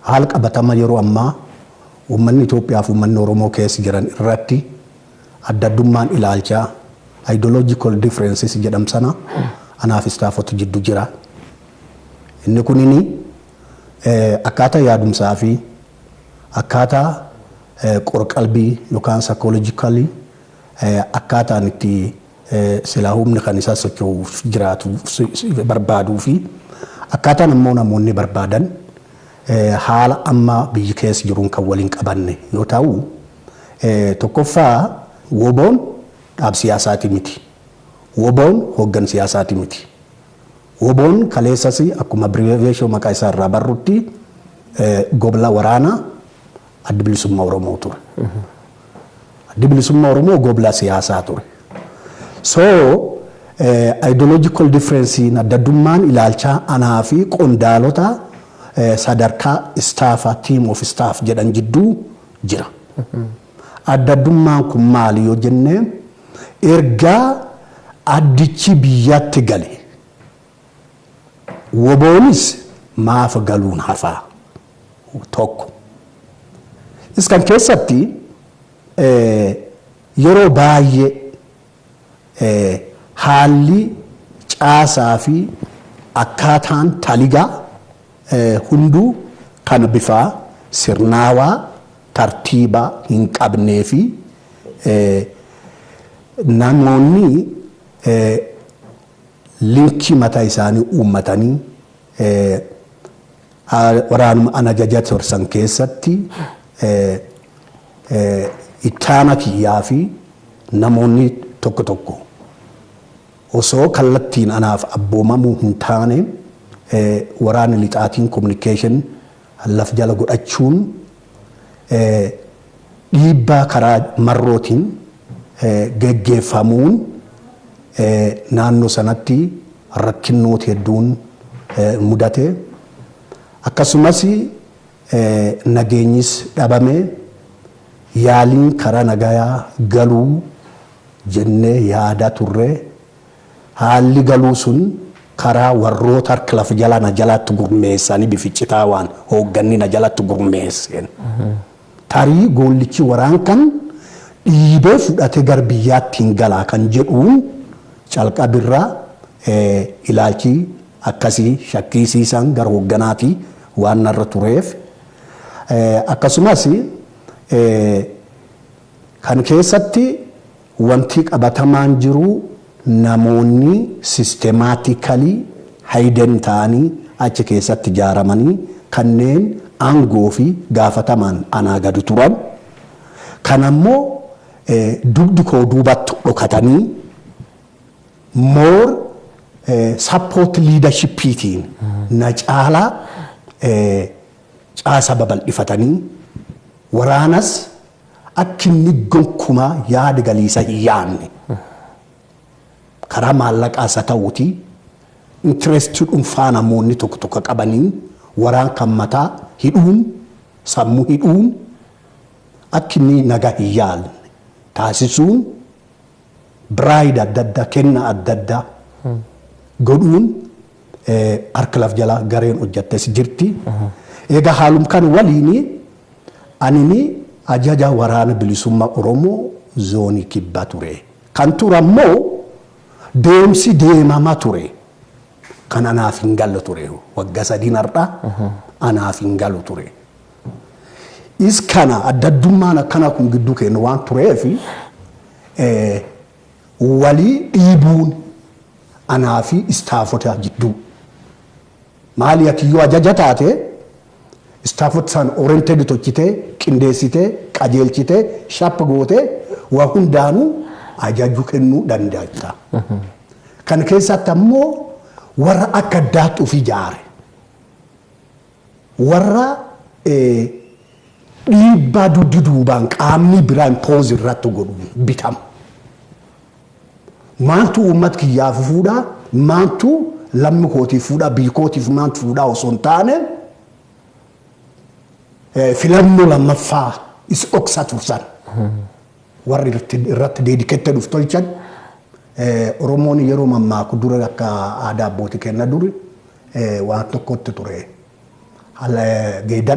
Haala qabatama yeroo ammaa uummanni Itoophiyaa fi uummanni Oromoo keessa jiran irratti adda addummaan ilaalchaa, ideological differences, jedhamu sana anaa fi istaafota jiddu jira. Inni kunini akkaataa yaadumsaa fi akkaataa qor-qalbii yookaan psychologically akkaataan itti silaa humni kan isaa socho'uuf jiraatu barbaaduu fi akkaataan ammoo namoonni barbaadan haala amma biyyi keessa jiruun kan waliin qabanne yoo ta'u tokkoffaa woboon dhaab siyaasaati miti. Woboon hooggan siyaasaati miti. Woboon kaleessas akkuma abiriveeshoo maqaa isaa irraa barrutti gobla waraanaa Addi Bilisummaa Oromoo ture. Addi Bilisummaa Oromoo gobla siyaasaa ture. So ideological difference adda addummaan ilaalchaa anaa fi qondaalota sadarkaa istaafa team of staff jedhan jidduu jira. Adda addummaan kun maali yoo jenne ergaa addichi biyyatti gale Woboonis maaf galuun hafaa? 1. Is kan keessatti yeroo baay'ee haalli caasaa fi akkaataan taligaa hunduu kan bifaa sirnaawaa tartiibaa hin qabnee fi namoonni Linchii mataa isaanii uummatanii waraanuma an ajaja ture san keessatti itti aanaa kiyyaa fi namoonni tokko tokko osoo kallattiin anaaf abboomamuu hin taane waraanni lixaatiin communication laf jala godhachuun dhiibbaa karaa marrootiin geggeeffamuun naannoo sanatti rakkinnooti hedduun mudate. Akkasumas nageenyis dhabame yaaliin karaa nagayaa galuu jennee yaadaa turre. Haalli galuu sun karaa warroota harka lafa jalaa na jalatti gurmeessanii bificcitaawaan hoogganni na jalatti gurmeesseen. Tarii goollichi waraan kan dhiibee fudhatee gar biyyaatti hin galaa kan jedhuun calqabirraa ilaalchi akkasii shakkiisiisaan gar hogganaati waan narra tureef. Akkasumas kan keessatti Wanti qabatamaan jiru namoonni systematically hidden ta'anii achi keessatti ijaaramanii kanneen aangoo fi gaafatamaan anaa gadi turan kan ammoo dugdi koo duubatti dhokatanii more support leadership tiin na caalaa caasa babal'ifatanii waraanas Akka inni gonkumaa yaada galiisa hin yaadne karaa maallaqaas haa ta'uuti interest dhunfaa namoonni tokko tokko qabaniin waraan kan mataa hidhuun sammuu hidhuun akka inni nagaa hin yaadne taasisuun bride adda addaa, kenna adda addaa godhuun harka laf jala gareen hojjattes jirti. Egaa haalum kan waliini anini ajaja waraana bilisummaa Oromoo zoonii kibba ture. Kan ture ammoo deemsi deemama ture kan anaaf hin galle ture. Wagga sadiin har'a anaaf hin galu ture. Is kana addaddummaan akkanaa kun gidduu keenya waan tureef walii dhiibuun anaa fi istaafota jidduu. Maali ati yoo ajaja taate istaafota san oriented tochitee qindeessitee qajeelchitee shappa gootee waa hundaanuu ajajuu kennuu danda'a. Kan keessatti ammoo warra akka addaatti of ijaare. Warra dhiibbaa dugdi duubaan qaamnii biraa impose irratti godhuun bitamu. Maaltu uummat kiyyaaf fuudhaa, maaltu lammi kootiif fuudhaa, biyyi kootiif maaltu fuudhaa osoo hin taane filannoo lammaffaa is dhoksatu san warri irratti deedikettee dhuf tolchan Oromoon yeroo mammaaku dura akka aadaa abbootii kenna duri waan tokkotti ture.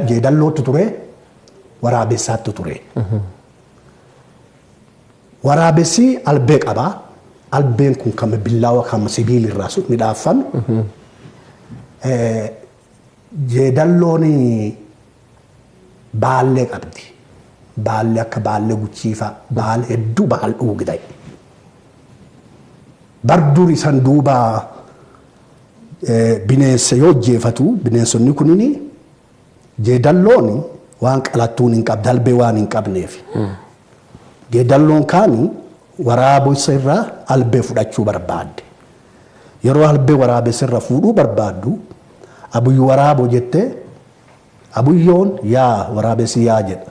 Jeedallootti ture, waraabessaatti ture. Waraabessi albee qaba. Albeen kun kan billaawa kan sibiilirraa midhaaffame. Jeedalloon baallee qabdi. Baallee akka baallee guchiifaa baal hedduu baal dhuugdai. Barduun isan duubaa Bineensa yoo ajjeefatu bineensonni kunini jeedalloon waan qalattuun hin qabne albee waan hin qabneef. Jeedalloon kaan waraabessa irraa albee fudhachuu barbaadde. Yeroo albee waraabessa irra fuudhuu barbaaddu abuyyu waraaboo jettee abuyyoon yaa waraabessi yaa jedha.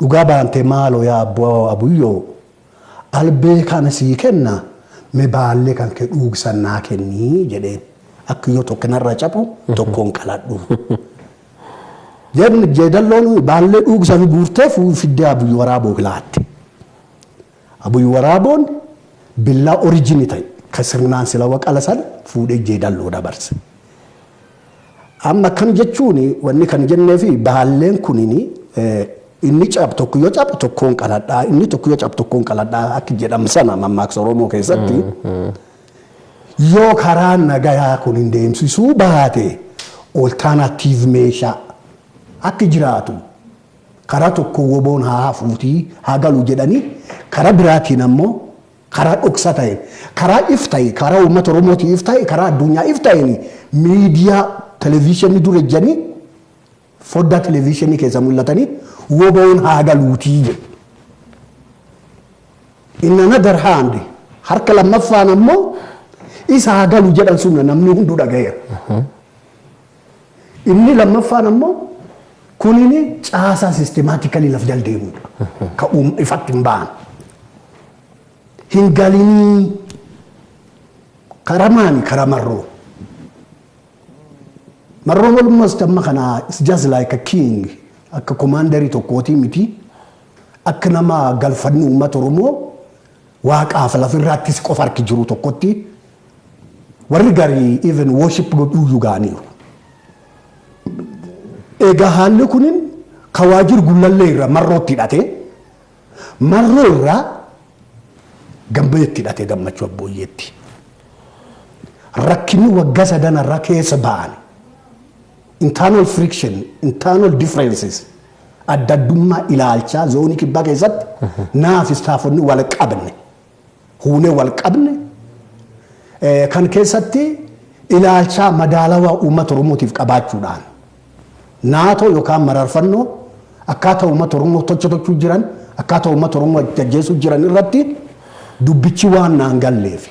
Dhugaa baantee maaloo yaa abboo abuyyoo albee kana sii kenna me baallee kan kee dhuugsan naa kennii jedheen akka yoo tokko narra caphu tokkoon qaladhu Jen- jeedalloon baallee dhuugsan guurtee fuu fiddee abuyyoo waraaboo kilaatte Abuy Waraaboon billaa origin ta'e ka sirnaan sila waqala san fuudhee jeedalloo dabarse. Amma akkam jechuun wanni kan jenneefi baalleen kunini inni cab tokko yoo cabu tokkoon qaladhaa inni tokko yoo cabu tokkoon qaladhaa akka jedhamu sana mammaaksa Oromoo keessatti yoo karaa nagayaa kun hin deemsisuu baate oltaanaatiiv meeshaa akka jiraatu Karaa tokkoon woboon haa hafuutii haa galu jedhanii karaa biraatiin ammoo karaa dhoksa ta'een karaa if ta'e karaa uummata Oromootii if ta'e karaa addunyaa if ta'een miidiyaa televiishinii dura ijjanii foddaa televiishinii keessa mul'atanii woboon haa galuutii jedhu. In another hand harka lammaffaan ammoo isa haa galu jedhan sunna namni hunduu dhagayeera. Inni lammaffaan ammoo kunini caasaa sistemaatikali laf jal deemudha. Ka uum ifatti hin ba'an. Hin galinii kara maani kara marroo. Marroon almost amma kana it's just like a king akka komaandarii tokkootii miti akka nama galfanni uummata Oromoo Waaqaaf laf irraattis qofa harki jiruu tokkotti warri garii even worship godhuuyyu ga'aniiru. Egaa haalli kunin ka waajir gullallee irra marrootti hidhate marroo irraa gambayetti hidhate gammachuu abbooyyeetti. Rakkinni wagga sadan irra keessa ba'an. Internal friction, internal differences, adda addummaa ilaalchaa zoonii kibbaa keessatti naa fi istaafonni wal qabne, huunee wal qabne eh, kan keessatti ilaalchaa madaalawaa uummata Oromootiif qabaachuudhaan naatoo yookaan mararfannoo akkaataa uummata Oromoo tocha tochuu jiran akkaataa uummata Oromoo ajjeesuu jiran irratti dubbichi waan naan galleefi.